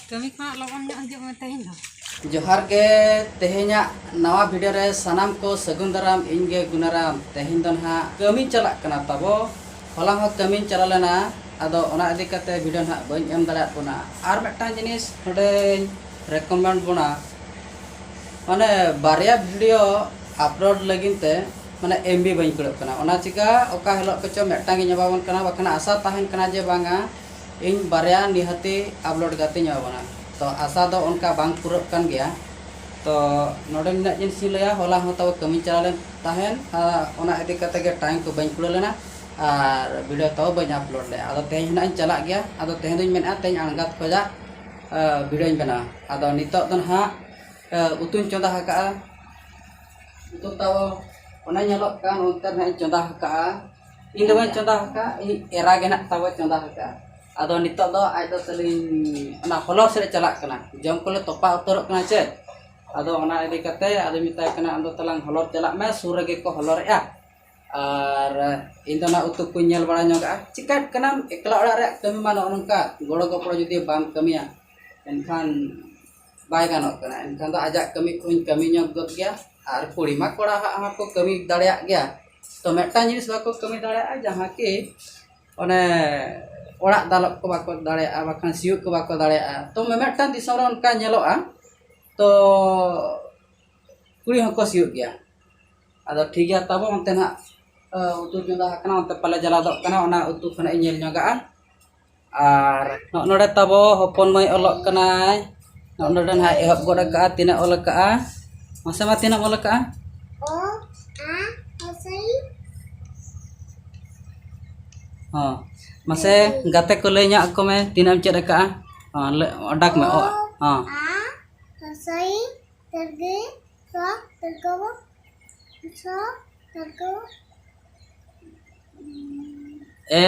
ᱠᱟᱹᱢᱤ ᱠᱷᱚᱱᱟᱜ ᱞᱚᱜᱚᱱ ᱧᱚᱜ ᱦᱤᱡᱩᱜ ᱢᱮ ᱛᱮᱦᱮᱧ ᱫᱚ ᱡᱚᱦᱟᱨ ᱜᱮ ᱛᱮᱦᱮᱧᱟᱜ ᱱᱟᱣᱟ ᱵᱷᱤᱰᱤᱭᱳ ᱨᱮ ᱥᱟᱱᱟᱢ ᱠᱚ ᱥᱟᱹᱜᱩᱱ ᱫᱟᱨᱟᱢ ᱤᱧ ᱜᱮ ᱜᱩᱱᱟᱨᱟᱢ ᱛᱮᱦᱮᱧ ᱫᱚ ᱱᱟᱦᱟᱜ ᱠᱟᱹᱢᱤ ᱪᱟᱞᱟᱜ ᱠᱟᱱᱟ ᱛᱟᱵᱚ ᱦᱚᱞᱟ ᱦᱚᱸ ᱠᱟᱹᱢᱤ ᱪᱟᱞᱟᱣ ᱞᱮᱱᱟ ᱟᱫᱚ ᱚᱱᱟ ᱤᱫᱤ ᱠᱟᱛᱮ ᱵᱷᱤᱰᱤᱭᱳ ᱱᱟᱦᱟᱜ ᱵᱟᱹᱧ ᱮᱢ ᱫᱟᱲᱮᱭᱟᱜ ᱵᱚᱱᱟ ᱟᱨ ᱢᱤᱫᱴᱟᱝ ᱡᱤᱱᱤᱥ ᱱᱚᱰᱮᱧ ᱨᱮᱠᱚᱢᱮᱱᱰ ᱵᱚᱱᱟ ᱢᱟᱱᱮ ᱵᱟᱨᱭᱟ ᱵᱷᱤᱰᱤᱭᱳ ᱟᱯᱞᱳᱰ ᱞᱟᱹᱜᱤᱫ ᱛᱮ ᱢᱟᱱᱮ ᱮᱢ ᱵᱤ ᱵᱟᱹᱧ ᱠᱩᱲᱟᱹᱜ ᱠᱟᱱᱟ ᱚᱱᱟ ᱪᱤᱠᱟᱹ ᱚᱠᱟ ᱦᱤᱞᱳᱜ ᱠᱚᱪᱚ ᱢᱤᱫᱴᱟᱝ ᱤᱧ ᱮᱢᱟᱵᱚᱱ ᱠᱟᱱᱟ ᱵᱟᱠᱷᱟᱱ ᱟᱥᱟ ᱛᱟᱦᱮᱱ ᱠᱟᱱᱟ ᱡᱮ ᱵᱟᱝᱟ ᱤᱧ ᱵᱟᱨᱭᱟ ᱱᱤᱦᱟᱹᱛᱤ ᱟᱯᱞᱳᱰ ᱠᱟᱛᱮᱧ ᱮᱢᱟᱵᱚᱱᱟ ᱛᱚ ᱟᱥᱟ ᱫᱚ ᱚᱱᱠᱟ ᱵᱟᱝ ᱯᱩᱨᱟᱹᱜ ᱠᱟᱱ ᱜᱮᱭᱟ ᱛᱚ ᱱᱚᱰᱮ ᱱᱤᱱᱟᱹᱜ ᱡᱤᱱᱤᱥ ᱤᱧ ᱞᱟᱹᱭᱟ ᱦᱚᱞᱟ ᱦᱚᱸ ᱛᱟᱵᱚ ᱠᱟᱹᱢᱤᱧ ᱪᱟᱞᱟᱣ ᱞᱮᱱ ᱛᱟᱦᱮᱱ ᱚᱱᱟ ᱤᱫᱤ ᱠᱟᱛᱮᱫ ᱜᱮ ᱴᱟᱭᱤᱢ ᱠᱚ ᱵᱟᱹᱧ ᱠᱩᱲᱟᱹᱣ ᱞᱮᱱᱟ ᱟᱨ ᱵᱷᱤᱰᱤᱭᱳ ᱛᱟᱣ ᱵᱟᱹᱧ ᱟᱯᱞᱳᱰ ᱞᱮᱫᱼᱟ ᱟᱫᱚ ᱛᱮᱦᱮᱧ ᱦᱟᱸᱜ ᱤᱧ ᱪᱟᱞᱟᱜ ᱜᱮᱭᱟ ᱟᱫᱚ ᱛᱮᱦᱮᱧ ᱫᱚᱧ ᱢᱮᱱᱮᱫᱼᱟ ᱛᱮᱦᱮᱧ ᱟᱬᱜᱟᱛ ᱠᱷᱚᱱᱟᱜ ᱵᱷᱤᱰᱤᱭᱳᱧ ᱵᱮᱱᱟᱣᱟ ᱟᱫᱚ ᱱᱤᱛᱚᱜ ᱫᱚ ᱱᱟᱦᱟᱜ ᱩᱛᱩᱧ ᱪᱚᱸᱫᱟ ᱟᱠᱟᱫᱼᱟ ᱩᱛᱩ ᱛᱟᱵᱚ ᱚᱱᱮ ᱧᱮᱞᱚᱜ ᱠᱟᱱ ᱚᱱᱛᱮ ᱨᱮ ᱦᱟᱸᱜ ᱤᱧ ᱪᱚᱸᱫᱟ ᱟᱠᱟᱫᱼᱟ ᱤᱧ ᱫᱚ ᱵᱟᱹᱧ ᱪᱚᱸᱫᱟ ᱟᱠᱟᱫᱼᱟ ᱤᱧᱤᱡ ᱮᱨᱟ ᱜᱮ ᱦᱟᱸᱜ ᱛᱟᱵᱚ ᱪᱚᱸᱫᱟ ᱟᱠᱟᱫᱼᱟ ᱟᱫᱚ ᱱᱤᱛᱚᱜ ᱫᱚ ᱟᱡ ᱫᱚ ᱛᱟᱹᱞᱤᱧ ᱚᱱᱟ ᱦᱚᱞᱚᱨ ᱥᱮᱫ ᱮ ᱪᱟᱞᱟᱜ ᱠᱟᱱᱟ ᱡᱚᱢ ᱠᱚᱞᱮ ᱛᱚᱯᱟ ᱩᱛᱟᱹᱨᱚᱜ ᱠᱟᱱᱟ ᱪᱮ ᱟᱫᱚ ᱚᱱᱟ ᱤᱫᱤ ᱠᱟᱛᱮᱫ ᱟᱫᱚᱧ ᱢᱮᱛᱟᱭ ᱠᱟᱱᱟ ᱟᱢ ᱫᱚ ᱛᱟᱞᱟᱝ ᱦᱚᱞᱚᱨ ᱪᱟᱞᱟᱜ ᱢᱮ ᱥᱩᱨ ᱨᱮᱜᱮ ᱠᱚ ᱦᱚᱞᱚᱨᱮᱫᱼᱟ ᱟᱨ ᱤᱧ ᱫᱚ ᱦᱟᱸᱜ ᱩᱛᱩ ᱠᱚᱧ ᱧᱮᱞ ᱵᱟᱲᱟ ᱧᱚᱜᱟᱜᱼᱟ ᱪᱤᱠᱟᱹᱜ ᱠᱟᱱᱟᱢ ᱮᱠᱞᱟ ᱚᱲᱟᱜ ᱨᱮᱭᱟᱜ ᱠᱟᱹᱢᱤ ᱢᱟ ᱱᱚᱜᱼᱚ ᱱᱚᱝᱠᱟ ᱜᱚᱲᱚ ᱜᱚᱯᱚᱲᱚ ᱡᱩᱫᱤ ᱵᱟᱢ ᱠᱟᱹᱢᱤᱭᱟ ᱮᱱᱠᱷᱟᱱ ᱵᱟᱭ ᱜᱟᱱᱚᱜ ᱠᱟᱱᱟ ᱮᱱᱠᱷᱟᱱ ᱫᱚ ᱟᱡᱟᱜ ᱠᱟᱹᱢᱤ ᱠᱚᱦᱚᱧ ᱠᱟᱹᱢᱤ ᱧᱚᱜ ᱜᱚᱫ ᱜᱮᱭᱟ ᱟᱨ ᱠᱩᱲᱤ ᱢᱟ ᱠᱚᱲᱟ ᱦᱟᱸᱜ ᱦᱚᱸᱠᱚ ᱠᱟᱹᱢᱤ ᱫᱟᱲᱮᱭᱟᱜ ᱜᱮᱭᱟ ᱛᱚ ᱢᱤᱫᱴᱟᱱ ᱡᱤᱱᱤᱥ ᱵᱟᱠᱚ ᱠᱟᱹᱢᱤ ᱫᱟᱲᱮᱭᱟᱜᱼᱟ ᱡᱟᱦᱟᱸ ᱠᱤ ᱚᱱᱮ ᱚᱲᱟᱜ ᱫᱟᱞᱚᱵ ᱠᱚ ᱵᱟᱠᱚ ᱫᱟᱲᱮᱭᱟᱜᱼᱟ ᱵᱟᱠᱷᱟᱱ ᱥᱤᱭᱳᱜ ᱠᱚ ᱵᱟᱠᱚ ᱫᱟᱲᱮᱭᱟᱜᱼᱟ ᱛᱚ ᱢᱤᱢᱤᱫᱴᱟᱱ ᱫᱤᱥᱚᱢ ᱨᱮ ᱚᱱᱠᱟ ᱧᱮᱞᱚᱜᱼᱟ ᱛᱚ ᱠᱩᱲᱤ ᱦᱚᱸᱠᱚ ᱥᱤᱭᱳᱜ ᱜᱮᱭᱟ ᱟᱫᱚ ᱴᱷᱤᱠ ᱜᱮᱭᱟ ᱛᱟᱵᱚ ᱚᱱᱛᱮ ᱱᱟᱦᱟᱸᱜ ᱩᱛᱩ ᱪᱚᱸᱫᱟ ᱟᱠᱟᱱᱟ ᱚᱱᱛᱮ ᱯᱟᱞᱮ ᱪᱟᱞᱟᱣ ᱜᱚᱫᱚᱜ ᱠᱟᱱᱟ ᱚᱱᱟ ᱩᱛᱩ ᱠᱚ ᱱᱟᱦᱟᱸᱜ ᱤᱧ ᱧᱮᱞ ᱧᱚᱜᱟᱜᱼᱟ ᱟᱨ ᱱᱚᱜᱼᱚᱸᱭ ᱱᱚᱰᱮ ᱛᱟᱵᱚ ᱦᱚᱯᱚᱱ ᱢᱟᱹᱭ ᱚᱞᱚᱜ ᱠᱟᱱᱟᱭ ᱱᱚᱜᱼᱚᱸᱭ ᱱᱚᱰᱮ ᱱᱟᱦᱟᱜ ᱮᱦᱚᱵ ᱜᱚᱫ ᱠᱟᱜᱼᱟ ᱛᱤᱱᱟᱹᱜ ᱚᱞ ᱠᱟᱜᱼᱟ ᱢᱟᱥᱮ ᱢᱟ ᱛᱤᱱᱟᱹᱜ ᱮᱢ ᱚᱞ ᱠᱟᱜᱼᱟ ᱦᱚᱸ ᱢᱟᱥᱮ ᱜᱟᱛᱮ ᱠᱚ ᱞᱟᱹᱭ ᱧᱚᱜ ᱟᱠᱚ ᱢᱮ ᱛᱤᱱᱟᱹᱜ ᱮᱢ ᱪᱮᱫ ᱠᱟᱜᱼᱟ ᱦᱚᱸ ᱚᱰᱟᱠ ᱢᱮ ᱚ ᱦᱚᱸ ᱮ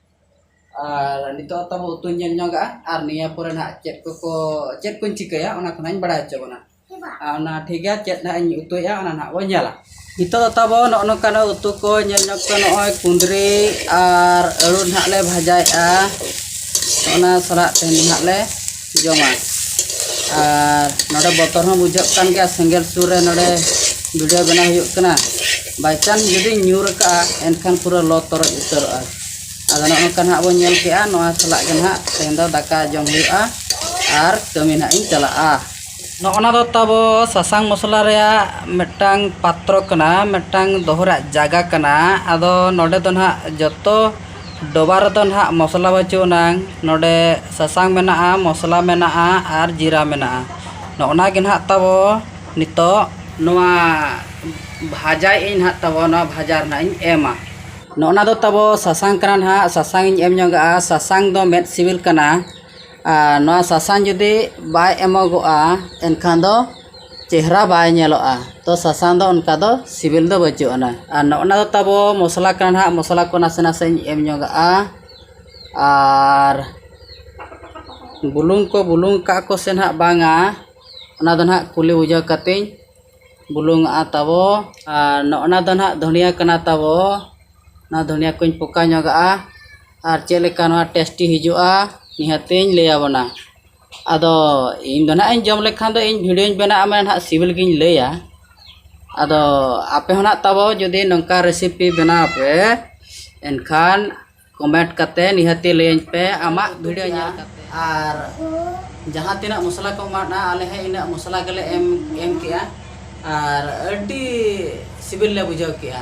ᱟᱨ ᱱᱤᱛᱚᱜ ᱦᱚᱸ ᱛᱟᱵᱚ ᱩᱛᱩᱧ ᱧᱮᱞ ᱧᱚᱜᱟᱜᱼᱟ ᱟᱨ ᱱᱤᱭᱟᱹ ᱯᱚᱨᱮ ᱱᱟᱦᱟᱜ ᱪᱮᱫ ᱠᱚᱠᱚ ᱪᱮᱫ ᱠᱚᱧ ᱪᱤᱠᱟᱹᱭᱟ ᱚᱱᱟ ᱠᱚ ᱱᱟᱦᱟᱜ ᱤᱧ ᱵᱟᱲᱟᱭ ᱦᱚᱪᱚ ᱵᱚᱱᱟ ᱟᱨ ᱚᱱᱟ ᱴᱷᱤᱠ ᱜᱮᱭᱟ ᱪᱮᱫ ᱱᱟᱦᱟᱜ ᱤᱧ ᱩᱛᱩᱭᱮᱫᱼᱟ ᱚᱱᱟ ᱱᱟᱦᱟᱜ ᱵᱚᱱ ᱧᱮᱞᱟ ᱱᱤᱛᱚᱜ ᱫᱚ ᱛᱟᱵᱚ ᱱᱚᱜᱼᱚ ᱱᱚᱝᱠᱟᱱᱟᱜ ᱩᱛᱩ ᱠᱚ ᱧᱮᱞ ᱧᱚᱜ ᱯᱮ ᱱᱚᱜᱼᱚᱭ ᱠᱩᱸᱫᱽᱨᱤ ᱟᱨ ᱟᱹᱞᱩ ᱱᱟᱦᱟᱜ ᱞᱮ ᱵᱷᱟᱡᱟᱭᱮᱫᱼᱟ ᱚᱱᱟ ᱥᱟᱞᱟᱜ ᱛᱮᱦᱮᱧ ᱫᱚ ᱱᱟᱦᱟᱜ ᱞᱮ ᱡᱚᱢᱟ ᱟᱨ ᱱᱚᱰᱮ ᱵᱚᱛᱚᱨ ᱦᱚᱸ ᱵᱩᱡᱷᱟᱹᱜ ᱠᱟᱱ ᱜᱮᱭᱟ ᱥᱮᱸᱜᱮᱞ ᱥᱩᱨ ᱨᱮ ᱱᱚᱰᱮ ᱵᱷᱤᱰᱤᱭᱳ ᱵᱮᱱᱟᱣ ᱦᱩᱭᱩᱜ ᱠᱟᱱᱟ ᱵᱟᱭ ᱪᱟᱱᱥ ᱡᱩᱫᱤ ᱧᱩᱨ ᱠᱟᱜᱼᱟ ᱮᱱᱠᱷᱟᱱ ᱯᱩᱨᱟᱹ ᱞᱚ ᱛᱚᱨᱚᱡ ᱩᱛᱟᱹᱨᱚᱜᱼᱟ ᱟᱫᱚ ᱱᱚᱜᱼᱚ ᱱᱚᱝᱠᱟ ᱱᱟᱦᱟᱜ ᱵᱚᱱ ᱧᱮᱞ ᱠᱮᱜᱼᱟ ᱱᱚᱣᱟ ᱥᱟᱞᱟᱜ ᱜᱮ ᱱᱟᱦᱟᱜ ᱛᱮᱦᱮᱧ ᱫᱚ ᱫᱟᱠᱟ ᱡᱚᱢ ᱦᱩᱭᱩᱜᱼᱟ ᱟᱨ ᱠᱟᱹᱢᱤ ᱱᱟᱦᱟᱜ ᱤᱧ ᱪᱟᱞᱟᱜᱼᱟ ᱱᱚᱜᱼᱚ ᱱᱟ ᱫᱚ ᱛᱟᱵᱚ ᱥᱟᱥᱟᱝ ᱢᱚᱥᱞᱟ ᱨᱮᱭᱟᱜ ᱢᱤᱫᱴᱟᱝ ᱯᱟᱛᱨᱚ ᱠᱟᱱᱟ ᱢᱤᱫᱴᱟᱝ ᱫᱚᱦᱚ ᱨᱮᱭᱟᱜ ᱡᱟᱭᱜᱟ ᱠᱟᱱᱟ ᱟᱫᱚ ᱱᱚᱰᱮ ᱫᱚ ᱱᱟᱦᱟᱜ ᱡᱚᱛᱚ ᱰᱚᱵᱷᱟ ᱨᱮᱫᱚ ᱱᱟᱦᱟᱜ ᱢᱚᱥᱞᱟ ᱵᱟᱹᱪᱩᱜ ᱟᱱᱟᱝ ᱱᱚᱰᱮ ᱥᱟᱥᱟᱝ ᱢᱮᱱᱟᱜᱼᱟ ᱢᱚᱥᱞᱟ ᱢᱮᱱᱟᱜᱼᱟ ᱟᱨ ᱡᱤᱨᱟᱹ ᱢᱮᱱᱟᱜᱼᱟ ᱱᱚᱜᱼᱚ ᱱᱟ ᱜᱮ ᱱᱟᱦᱟᱜ ᱛᱟᱵᱚ ᱱᱤᱛᱚᱜ ᱱᱚᱣᱟ ᱵᱷᱟᱡᱟᱭᱮᱫ ᱟᱹᱧ ᱱᱟᱦᱟᱜ ᱛᱟᱵᱚ ᱱᱚᱣᱟ ᱵᱷᱟᱡᱟ ᱨᱮ ᱱᱟᱦᱟᱜ ᱤᱧ ᱮᱢᱟ ᱱᱚᱜᱼᱚ ᱱᱟ ᱫᱚ ᱛᱟᱵᱚ ᱥᱟᱥᱟᱝ ᱠᱟᱱᱟ ᱱᱟᱦᱟᱜ ᱥᱟᱥᱟᱝ ᱤᱧ ᱮᱢ ᱧᱚᱜᱟᱜᱼᱟ ᱥᱟᱥᱟᱝ ᱫᱚ ᱢᱮᱫ ᱥᱤᱵᱤᱞ ᱠᱟᱱᱟ ᱟᱨ ᱱᱚᱣᱟ ᱥᱟᱥᱟᱝ ᱡᱩᱫᱤ ᱵᱟᱭ ᱮᱢᱚᱜᱚᱜᱼᱟ ᱮᱱᱠᱷᱟᱱ ᱫᱚ ᱪᱮᱦᱨᱟ ᱵᱟᱭ ᱧᱮᱞᱚᱜᱼᱟ ᱛᱚ ᱥᱟᱥᱟᱝ ᱫᱚ ᱚᱱᱠᱟ ᱫᱚ ᱥᱤᱵᱤᱞ ᱫᱚ ᱵᱟᱹᱪᱩᱜ ᱟᱱᱟ ᱟᱨ ᱱᱚᱜᱼᱚ ᱱᱟ ᱫᱚ ᱛᱟᱵᱚ ᱢᱚᱥᱞᱟ ᱠᱟᱱᱟ ᱱᱟᱦᱟᱜ ᱢᱚᱥᱞᱟ ᱠᱚ ᱱᱟᱥᱮ ᱱᱟᱥᱮᱧ ᱮᱢ ᱧᱚᱜᱟᱜᱼᱟ ᱟᱨ ᱵᱩᱞᱩᱝ ᱠᱚ ᱵᱩᱞᱩᱝ ᱠᱟᱜ ᱟᱠᱚ ᱥᱮ ᱱᱟᱦᱟᱜ ᱵᱟᱝᱟ ᱚᱱᱟ ᱫᱚ ᱱᱟᱦᱟᱜ ᱠᱩᱞᱤ ᱵᱩᱡᱷᱟᱹᱣ ᱠᱟᱛᱮᱫ ᱤᱧ ᱵᱩᱞᱩᱝ ᱟᱜᱼᱟ ᱛᱟᱵᱚ ᱟᱨ ᱱᱚᱜᱼᱚ ᱱᱟ ᱫᱚ ᱱᱟᱦᱟᱜ ᱫᱷᱚᱱᱤᱭᱟᱹ ᱠᱟᱱᱟ ᱛᱟᱵᱚ ᱱᱚᱣᱟ ᱫᱷᱚᱱᱤᱭᱟᱹ ᱠᱚᱧ ᱯᱚᱠᱟ ᱧᱚᱜᱟᱜᱼᱟ ᱟᱨ ᱪᱮᱫ ᱞᱮᱠᱟ ᱱᱚᱣᱟ ᱴᱮᱥᱴᱤ ᱦᱤᱡᱩᱜᱼᱟ ᱱᱤᱦᱟᱹᱛ ᱤᱧ ᱞᱟᱹᱭ ᱟᱵᱚᱱᱟ ᱟᱫᱚ ᱤᱧ ᱫᱚ ᱦᱟᱸᱜ ᱤᱧ ᱡᱚᱢ ᱞᱮᱠᱷᱟᱱ ᱫᱚ ᱤᱧ ᱵᱷᱤᱰᱭᱳᱧ ᱵᱮᱱᱟᱣ ᱟᱢᱟ ᱦᱟᱸᱜ ᱥᱤᱵᱤᱞ ᱜᱤᱧ ᱞᱟᱹᱭᱟ ᱟᱫᱚ ᱟᱯᱮ ᱦᱚᱸ ᱦᱟᱸᱜ ᱛᱟᱵᱚ ᱡᱩᱫᱤ ᱱᱚᱝᱠᱟ ᱨᱮᱥᱤᱯᱤ ᱵᱮᱱᱟᱣ ᱯᱮ ᱮᱱᱠᱷᱟᱱ ᱠᱚᱢᱮᱱᱴ ᱠᱟᱛᱮᱫ ᱱᱤᱦᱟᱹᱛ ᱜᱮ ᱞᱟᱹᱭᱟᱹᱧ ᱯᱮ ᱟᱢᱟᱜ ᱵᱷᱤᱰᱭᱳ ᱧᱮᱞ ᱠᱟᱛᱮᱫ ᱟᱨ ᱡᱟᱦᱟᱸ ᱛᱤᱱᱟᱹᱜ ᱢᱚᱥᱞᱟ ᱠᱚ ᱮᱢᱟᱜᱼᱟ ᱟᱞᱮ ᱦᱚᱸ ᱤᱱᱟᱹᱜ ᱢᱚᱥᱞᱟ ᱜᱮᱞᱮ ᱮᱢ ᱮᱢ ᱠᱮᱜᱼᱟ ᱟᱨ ᱟᱹᱰᱤ ᱥᱤᱵᱤᱞ ᱞᱮ ᱵᱩᱡᱷᱟᱹᱣ ᱠᱮᱜᱼᱟ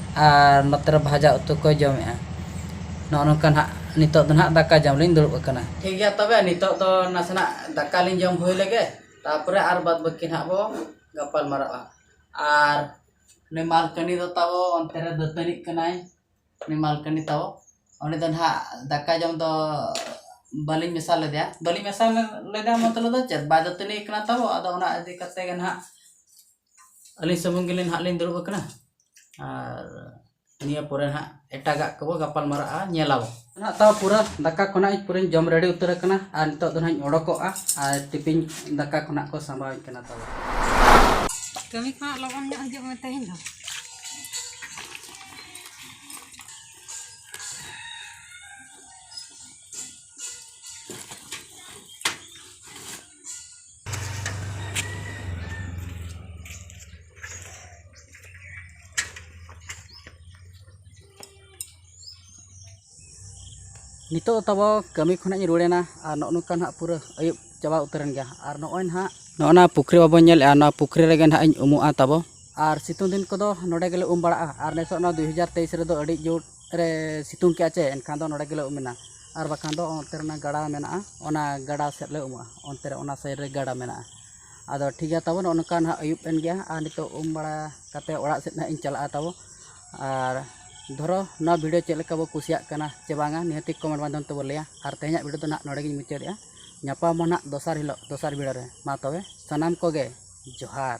ᱟᱨ ᱱᱚᱛᱮ ᱨᱮ ᱵᱷᱟᱡᱟ ᱩᱛᱩ ᱠᱚᱭ ᱡᱚᱢᱮᱜᱼᱟ᱾ ᱱᱚᱜᱼᱚ ᱱᱚᱝᱠᱟ ᱱᱟᱦᱟᱜ ᱱᱤᱛᱚᱜ ᱫᱚ ᱱᱟᱦᱟᱜ ᱫᱟᱠᱟ ᱡᱚᱢ ᱞᱤᱧ ᱫᱩᱲᱩᱵ ᱟᱠᱟᱱᱟ᱾ ᱴᱷᱤᱠ ᱜᱮᱭᱟ ᱛᱚᱵᱮ ᱱᱤᱛᱚᱜ ᱫᱚ ᱱᱟᱥᱮᱱᱟᱜ ᱫᱟᱠᱟ ᱞᱤᱧ ᱡᱚᱢ ᱦᱩᱭ ᱞᱮᱜᱮ ᱛᱟᱨᱯᱚᱨᱮ ᱟᱨ ᱵᱟᱫᱽ ᱵᱟᱹᱠᱤ ᱱᱟᱦᱟᱜ ᱵᱚ ᱜᱟᱯᱟᱞ ᱢᱟᱨᱟᱜᱼᱟ᱾ ᱟᱨ ᱩᱱᱤ ᱢᱟᱞᱠᱟᱹᱱᱤ ᱫᱚ ᱛᱟᱵᱚ ᱚᱱᱛᱮ ᱨᱮ ᱫᱟᱹᱛᱟᱹᱱᱤᱜ ᱠᱟᱱᱟᱭ᱾ ᱩᱱᱤ ᱢᱟᱞᱠᱟᱹᱱᱤ ᱛᱟᱵᱚ ᱩᱱᱤ ᱫᱚ ᱱᱟᱦᱟᱜ ᱫᱟᱠᱟ ᱡᱚᱢ ᱫᱚ ᱵᱟᱹᱞᱤᱧ ᱢᱮᱥᱟ ᱞᱮᱫᱮᱭᱟ᱾ ᱵᱟᱹᱞᱤᱧ ᱢᱮᱥᱟ ᱞᱮᱫᱮᱭᱟ ᱢᱚᱛᱞᱚᱵ ᱫᱚ ᱪᱮᱫ ᱵᱟᱭ ᱫᱟᱹᱛᱟᱹᱱᱤ ᱟᱠᱟᱱᱟ ᱛᱟᱵᱚ ᱟᱫᱚ ᱚᱱᱟ ᱤᱫᱤ ᱠᱟᱛᱮᱫ ᱜᱮ ᱱᱟᱦᱟᱜ᱾ ᱟᱹᱞᱤᱧ ᱥᱩᱢᱩᱝ ᱜᱮᱞᱤᱧ ᱱᱟᱦᱟᱜ ᱞᱤᱧ ᱫᱩᱲᱩᱵ ᱟᱠᱟᱱᱟ ᱟᱨ ᱱᱤᱭᱟᱹ ᱯᱚᱨᱮ ᱱᱟᱦᱟᱜ ᱮᱴᱟᱜᱟᱜ ᱠᱚᱵᱚ ᱜᱟᱯᱟᱞ ᱢᱟᱨᱟᱜᱼᱟ ᱧᱮᱞ ᱟᱵᱚ ᱱᱟᱦᱟᱜ ᱛᱟᱣ ᱯᱩᱨᱟᱹ ᱫᱟᱠᱟ ᱠᱚ ᱱᱟᱦᱟᱜ ᱤᱧ ᱯᱩᱨᱟᱹᱧ ᱡᱚᱢ ᱨᱮᱰᱤ ᱩᱛᱟᱹᱨ ᱟᱠᱟᱱᱟ ᱟᱨ ᱱᱤᱛᱚᱜ ᱫᱚ ᱱᱟᱦᱟᱜ ᱤᱧ ᱚᱰᱚᱠᱚᱜᱼᱟ ᱟᱨ ᱴᱤᱯᱤᱱ ᱫᱟᱠᱟ ᱠᱚ ᱱᱟᱦᱟᱜ ᱠᱚ ᱥᱟᱸᱵᱟᱣᱤᱧ ᱠᱟᱱᱟ ᱛᱚᱵᱮ ᱠᱟᱹᱢᱤ ᱠᱚ ᱦᱟᱸᱜ ᱞᱚᱜᱚᱱ ᱧᱚᱜ ᱦᱤᱡᱩᱜ ᱢᱮ ᱛᱮᱦᱮᱧ ᱫᱚ ᱱᱤᱛᱚᱜ ᱛᱟᱵᱚ ᱠᱟᱹᱢᱤ ᱠᱷᱚᱱᱟᱜ ᱤᱧ ᱨᱩᱣᱟᱹᱲᱮᱱᱟ ᱟᱨ ᱱᱚᱜᱼᱚ ᱱᱚᱝᱠᱟ ᱱᱟᱦᱟᱜ ᱯᱩᱨᱟᱹ ᱟᱹᱭᱩᱵ ᱪᱟᱵᱟ ᱩᱛᱟᱹᱨᱮᱱ ᱜᱮᱭᱟ ᱟᱨ ᱱᱚᱜᱼᱚᱭ ᱱᱟᱦᱟᱜ ᱱᱚᱜᱼᱚ ᱱᱟ ᱯᱩᱠᱷᱨᱤ ᱵᱟᱵᱚᱱ ᱧᱮᱞᱮᱜᱼᱟ ᱱᱚᱣᱟ ᱯᱩᱠᱷᱨᱤ ᱨᱮᱜᱮ ᱱᱟᱦᱟᱜ ᱤᱧ ᱩᱢᱩᱜᱼᱟ ᱛᱟᱵᱚ ᱟᱨ ᱥᱤᱛᱩᱝ ᱫᱤᱱ ᱠᱚᱫᱚ ᱱᱚᱰᱮ ᱜᱮᱞᱮ ᱩᱢ ᱵᱟᱲᱟᱜᱼᱟ ᱟᱨ ᱱᱤᱛᱚᱜ ᱱᱚᱣᱟ ᱫᱩ ᱦᱟᱡᱟᱨ ᱛᱮᱭᱤᱥ ᱨᱮᱫᱚ ᱟᱹᱰᱤ ᱡᱳᱨ ᱨᱮ ᱥᱤᱛᱩᱝ ᱠᱮᱜᱼᱟ ᱪᱮ ᱮᱱᱠᱷᱟᱱ ᱫᱚ ᱱᱚᱰᱮ ᱜᱮᱞᱮ ᱩᱢᱮᱱᱟ ᱟᱨ ᱵᱟᱠᱷᱟᱱ ᱫᱚ ᱚᱱᱛᱮ ᱨᱮ ᱜᱟᱰᱟ ᱢᱮᱱᱟᱜᱼᱟ ᱚᱱᱟ ᱜᱟᱰᱟ ᱥᱮᱫ ᱞᱮ ᱩᱢᱩᱜᱼᱟ ᱚᱱᱛᱮ ᱨᱮ ᱚᱱᱟ ᱥᱟᱭᱤᱰ ᱨᱮ ᱜᱟᱰᱟ ᱢᱮᱱᱟᱜᱼᱟ ᱟᱫᱚ ᱴᱷᱤᱠ ᱜᱮᱭᱟ ᱛᱟᱵᱚ ᱱᱚᱜᱼᱚ ᱱᱚᱝᱠᱟ ᱱᱟᱜ ᱟᱹᱭᱩᱵ ᱮᱱ ᱜᱮᱭᱟ ᱟᱨ ᱱᱤᱛᱚᱜ ᱩᱢ ᱵᱟᱲᱟ ᱠᱟᱛᱮᱫ ᱚᱲᱟᱜ ᱥᱮᱫ ᱱᱟᱜ ᱤᱧ ᱪᱟᱞᱟᱜᱼᱟ ᱛᱟᱵᱚ ᱟᱨ ᱫᱷᱚᱨᱚ ᱱᱚᱣᱟ ᱵᱷᱤᱰᱤᱭᱳ ᱪᱮᱫ ᱞᱮᱠᱟ ᱵᱚ ᱠᱩᱥᱤᱭᱟᱜ ᱠᱟᱱᱟ ᱪᱮ ᱵᱟᱝᱟ ᱱᱤᱦᱟᱹᱛᱤ ᱠᱚᱢᱮᱱᱴ ᱢᱟᱫᱽᱫᱷᱚᱢ ᱛᱮᱵᱚ ᱞᱟᱹᱭᱟ ᱟᱨ ᱛᱮᱦᱮᱧᱟᱜ ᱵᱷᱤᱰᱤᱭᱳ ᱫᱚ ᱱᱟᱜ ᱱᱚᱰᱮ ᱜᱤᱧ ᱢᱩᱪᱟᱹᱫᱮᱜᱼᱟ ᱧᱟᱯᱟᱢ ᱟᱵᱚ ᱱᱟᱜ ᱫᱚᱥᱟᱨ ᱦᱤᱞᱳᱜ ᱫᱚᱥᱟᱨ ᱵᱷᱤᱰᱤᱭᱳ ᱨᱮ ᱢᱟ ᱛᱚᱵᱮ ᱥᱟᱱᱟᱢ ᱠᱚᱜᱮ ᱡᱚᱦᱟᱨ